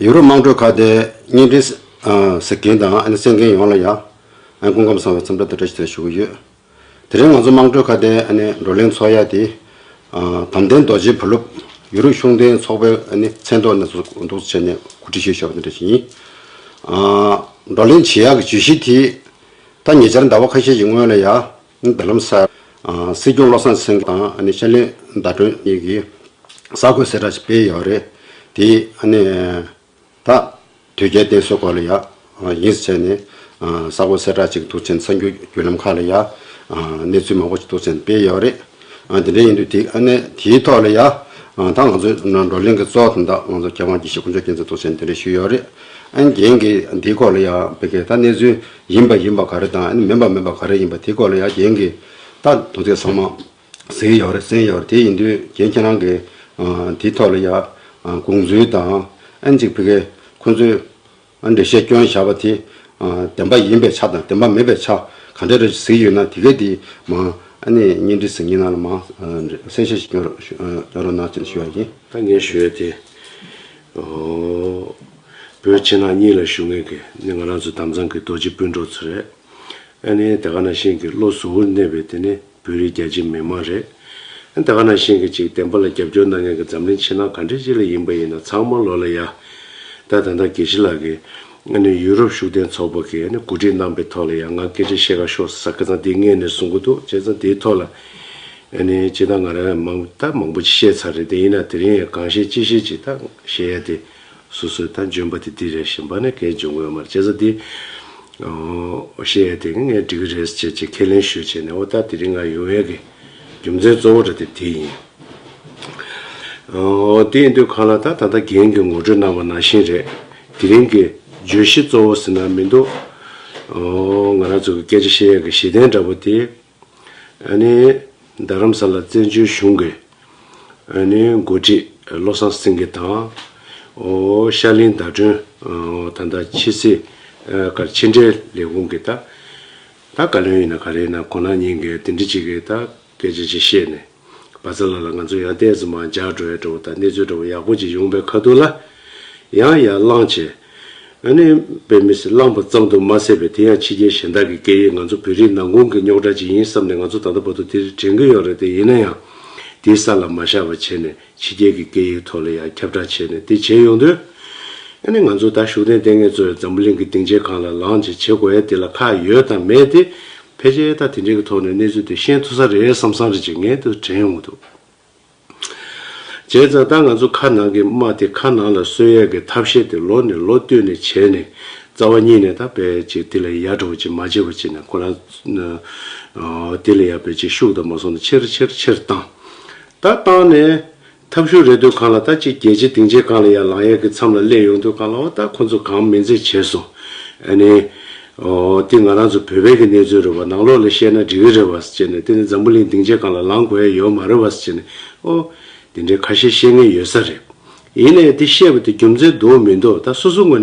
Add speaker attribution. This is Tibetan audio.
Speaker 1: ཡུ་རོབ་དམངས་ཁྲོད་ཁག་ཏེ་བརྙན་འཕྲིན་ཟེར་མཁན་དང་ཨ་ནེ་བཙན་མཁན་ཡོངས་ལ་ཡང་སྐུ་འགམ་བཟང་བའི་འཚམས་འདྲ་དང་བཀྲ་ཤིས་དང་ཞུ་གི་ཡོད། དེ་རིང་ང་ཚོ་དམངས་ཁྲོད་ཁག་ཏེ་ཨ་ནེ་བགྲོ་གླེང་ཚོགས་ཡ་དེ། དམ་ལྡན་རྡོ་རྗེའི་བུ་སློབ། ཡུ་རོབ་གཞུང་འབྲེལ་ཚོགས་པའི་ཨ་ནེ་མཚན་ཐོག་ནས་ཚོགས་འདུ་འདུག་ཚོགས་ཆེན་ནས་གོ་སྒྲིག་ཞུས་ཤོག་དང་བཀྲ་ཤིས་ཡིན། བགྲོ་གླེང་བྱེད་ཡག་གི་བརྗོད་གཞི་དེ། ད་ཉེ་ཆར་ཟླ་བ་ཁ་ཤས་ཀྱི་སྔོན་ལ་ཡ། མདུན་ལམ་གསར། སྲིད་སྐྱོང་བློ་བཟང་སེང་གེ་དང་ཤར་གླིང་ཟླ་སྒྲོན་གཉིས་ཀྱིས་གསར་འགོད་གསལ་བསྒྲགས་ཤིག་སྤེལ་ཡོད་པ་རེད། དེས་ད་དུས་རྒྱལ་བསྟན་སྲོལ་སྐོར་ལ་ཡག་ཡིན་ཟེར་ནས་གསར་འགོད་གསལ་བསྒྲགས་ཅིག་དུས་ཆེན་འཚང་རྒྱུའི་བརྒྱུད་ལམ་ཁག་ལ་ཡང་གནས་ཚུལ་མང་པོ་ཞིག་དུས་ཆེན་སྤེལ་ཡོད་པ་རེད། དེ་འདྲ་ཡིན་དུས་དེའི་ཐོག་ལ་ཡང་ད་ང་ཚོའི་བགྲོ་གླེང་གི་གཙོ་བོ་དང་ད་ང་ཚོ་མཁས་དབང་དགེ་བཤེས་དཀོན་མཆོག་མཁྱེན་བརྩེ་དུས་ཆེན་དེ་འདྲ་ཞུས་ཡོད་པ་རེད། རྒན་གྱིས་དེའི་སྐོར་ལ་ཡང་བོད་སྐད་ད་གནས་ཚུལ་ཡིན་པ་ཡིན་པ་ག་རེ་དང་མིན་པ་མིན་པ་ག་རེ་ཡིན་པ་དེའི་སྐོར་ལ་ཡང་རྒྱན་གྱི་རྟགས་དང་དོན་ཚན་ཚང་མ་གཟིགས་ཡོད་རེད་གསན་ཡོད་རེད་དེ་ཡིན་དུས་རྒྱན་ཁྱེད་རང་གིས་དེའི་ཐོག་ལ་ཡང་དགོངས་ཚུལ་དང་ཨན་ཅིག་བི་གེ་ཁོང་ཚོའི་འགྲེལ་བཤད་བསྐྱོན་བཞག་པ་དེ་བདེན་པ་ཡིན་པའི་ཆ་དང་བདེན་པ་མིན་པའི་ཆ་ག་འདྲ་རེད་གཟིགས་ཡོད་ན་དེ་གའི་དེའི་མང་གཉེན་སྒྲིག་ཟིན་གྱི་ན་ལ་མང་གསལ་བཤད་ཞིག་བསྐྱོན་རོགས་གནང་ཞུ་བ་ཡིན། ད་ངས་ཞུ་ཡོད་དེ།
Speaker 2: བོད་ཕྱི་ནང་གཉིས་ལ་ཞུ་ངེས་ཀྱི་ནི་ང་རང་ཚོ་དམ་གཙང་གི་རྡོ་རྗེ་སྤུན་གྲོགས་ཚོ་རེད། ཨ་ནི་དེ་ག་ནང་བཞིན་གྱི་བློ་གཟུ་བོར་གནས་པའི་དེ་ནི་བོད་རིགས་རྒྱ་ཆེའི་མི་མང་རེད། ཨ་དེ་ག་ནང་བཞིན་གྱི་ཅིག་བདེན་པ་ལ་རྒྱབ་སྐྱོར་གནང་མཁན་གྱི་འཛམ་གླིང་ཕྱི་ནང་ག་འདྲི་ཅི་ལ་ཡིན་པ་ཡིན་ན་ཚང་མ་ལོ་ལ་ཡ། ད་ད་ལྟ་དགེ་བཤེས་ལགས་ཀྱི་ཨ་ནི་ཡུ་རོབ་ཤུགས་ལྡན་ཚོགས་པ་གྱི་ཨ་ནི་གོ་སྒྲིག་གནང་པའི་ཐོག་ལ་ཡ་ང་སྐད་ཆ་བཤད་ག་ཤོག་ས་སྐད་ཚང་འདི་སྔས་ནས་གསུང་གི་འདུག་བྱས་ཙང་དེའི་ཐོག་ལ་ཨ་ནི་ཅིག་ད་ང་རང་ཡ་མང་ད་མང་པོ་ཅིག་བཤད་ཚར་རེད་དེ་ཡིན་ན་དེ་རིང་ཡ་གང་བཤད་ཅི་བཤད་ཅིག་ད་བཤད་ཡ་དེ། སོ་སོའི་ལྟ་འཇོན་པ་དེ་འདི་རེད་བཞིན་པ་ནས་གལ་འཇོག་ངོ་མར་བྱེད་ས་དེ། ཤེས་ཡ་དེ་གིས་ངས་འབྲི་གི་རེད་ཅེས་ཅེས་ཁས་ལེན་ཞུ་བྱས་ནས་འོ་ལྟ་དེ་རིང་ང་ཡོང་ཡས་ཀྱི་རྒྱུ་མཚན་གཙོ་བོ་འདྲ་དེ་དེ་ཡིན། དེ་ཡིན་དུས་གང་ལ་ད་ད་ལྟ་རྒན་གྱིས་ངོ་སྤྲོད་གནང་བ་ནང་བཞིན་རེད། དེ་རིང་གི་བརྗོད་གཞི་གཙོ་བོ་ཟེར་ན་མི་འདུག། ང་རང་ཚོ་གི་སྐད་ཆ་ཤེས་ཡ་གི་གཞི་རྟེན་འདྲ་པོ་དེ། འོན་ནི་རྡ་རམ་ས་ལ་བཙན་བྱོལ་གཞུང་གི་འོས་མི་འགོ་ཁྲིད་བློ་བཟང་སེང་གེ་དང། ཤར་གླིང་ཟླ་སྒྲོན་ད་ལྟ་ཕྱི་སྲིད་བཀར་ཕྱི་འབྲེལ་ལས་ཁུངས་ཀྱི་ད་ད་བཀའ་བློན་ཡིན་ན་ག་རེ་ཡིན་ན་གོ་ན་ཉིན་འགའི་འདི་འདྲི་ཅིག་གིས་ད་སྐད་ཆ་ཅིག་བཤད་ནས། བ་ཚ་ལགས་ལ་ང་ཚོ་ཡང་བསྟན་ཟིན་མ་འཇགས་འགྲོ་ཡག་འགྲོ་བ་དང་གནས་ཚུལ་འདྲ་བོ་ཡག་པོ་ཅིག་ཡོང་པའི་ཁ་ཐུག་ལ། ཡང་ཡར་བླངས་བྱས། ཨ་ནེ། བའི་མི་སེར་བླངས་པ་ཙམ་དུ་མ་ཟད་པའི་དེ་ཡང་ཕྱི་རྒྱལ་གཞན་དག་གི་སྐད་ཡིག་ང་ཚོ་བོད་རིགས་ནང་ཁུང་གི་རྙོག་དྲ་ཅིག་ཡིན་བསམ་ནས་ང་ཚོ་ད་ལྟ་བར་དུ་དེ་རིགས་དྲན་གྱི་ཡོད་རེད་དེ་ཡིན་ན་ཡང་དེའི་ས་ལ་མ་བཞག་པ་བྱས་ནས་ཕྱི་རྒྱལ་གྱི་སྐད་ཡིག་ཐོག་ལ་ཡང་ཁྱབ་བསྒྲགས་བྱས་ནས་དེ་བྱེད་ཡོང་དུས། ཡང་ནི་ང་ཚོ་ད་ཤུགས་ལྡན་ལྟས་ངན་གཙོ་བའི་འཛམ་བུ་གླིང་གི་སྡིངས་ཆའི་སྒང་ལ་ལངས་རྗེས་བྱེད་དགོས་ཡ་དེ་ལ་ཁག་ཡོད་དང་མེད་དེ། ཕལ་ཆེར་ད་དེ་འདྲའི་གི་ཐོག་ནས་གནས་ཚུལ་དེ་ཤེས་ཐུབ་ས་རེད་བསམ་བསམ་རེ་བྱེད་ངེས་དུ་དྲན་ཡོང་གི་འདུག་བྱས་ཙང་ད་ང་ཚོ་ཁ་ནང་གི་དམག་དེ་ཁ་ནང་ལ་གསོད་ཡས་གི་ཐབས་ཤེས་དེ་ལོ་ནས་ལོ་བསྟུད་ནས་བྱས་ནས་རྩ་བ་ཉིད་ནས་ད་བས་ཅིག་དེ་ལ་ཡ་འགྲོ་བ་ཅིག་མ་བྱེད་པ་ཅིག་ན་ཁོ་ན། དེ་ལ་ཡ་བས་ཅིག་ཤུགས་དང་མ་སོང་ན་ཆེར་ཆེར་ཆེར་བཏང། ད་བཏང་ནས། ཐབས་ཤུགས་རེ་ལྟོས་གང་ལ་ད་ཅིག་རྒྱལ་སྤྱི་སྡིངས་ཆའི་སྒང་ལ་ཡར་ལངས་ཡར་གྱི་མཚམས་ལ་སླེབས་ཡོང་ལྟོས་གང་ལ་འོ་ད་ཁོ་ཚོ་གང་མི་མཛེས་བྱས་སོང། ཨ་ནི། ཨོ། འདི་ང་རང་ཚོ་བོད་པའི་གི་གནས་ཚུལ་རེད་བ་ནང་ལོག་ལ་བཤད་ན་འགྲིག་གི་རེད་བ་ཅེས་ནས་དེ་ནི་འཛམ་བུ་གླིང་སྡིངས་ཆའི་སྒང་ལ་ལངས་དགོས་ཡ་ཡོད་མ་རེད་བ་ཅེས་ནས་ཨོ། འདི་འདྲའི་ཁ་ཤས་བཤད་ངེས་ཡོད་ས་རེད། ཡིན་ནའི་འདི་བཤད་པ་དེ་རྒྱུ་མཚན་འདུག་མི་འདུག་ད་སོ་སོའི་ངོས་ནས།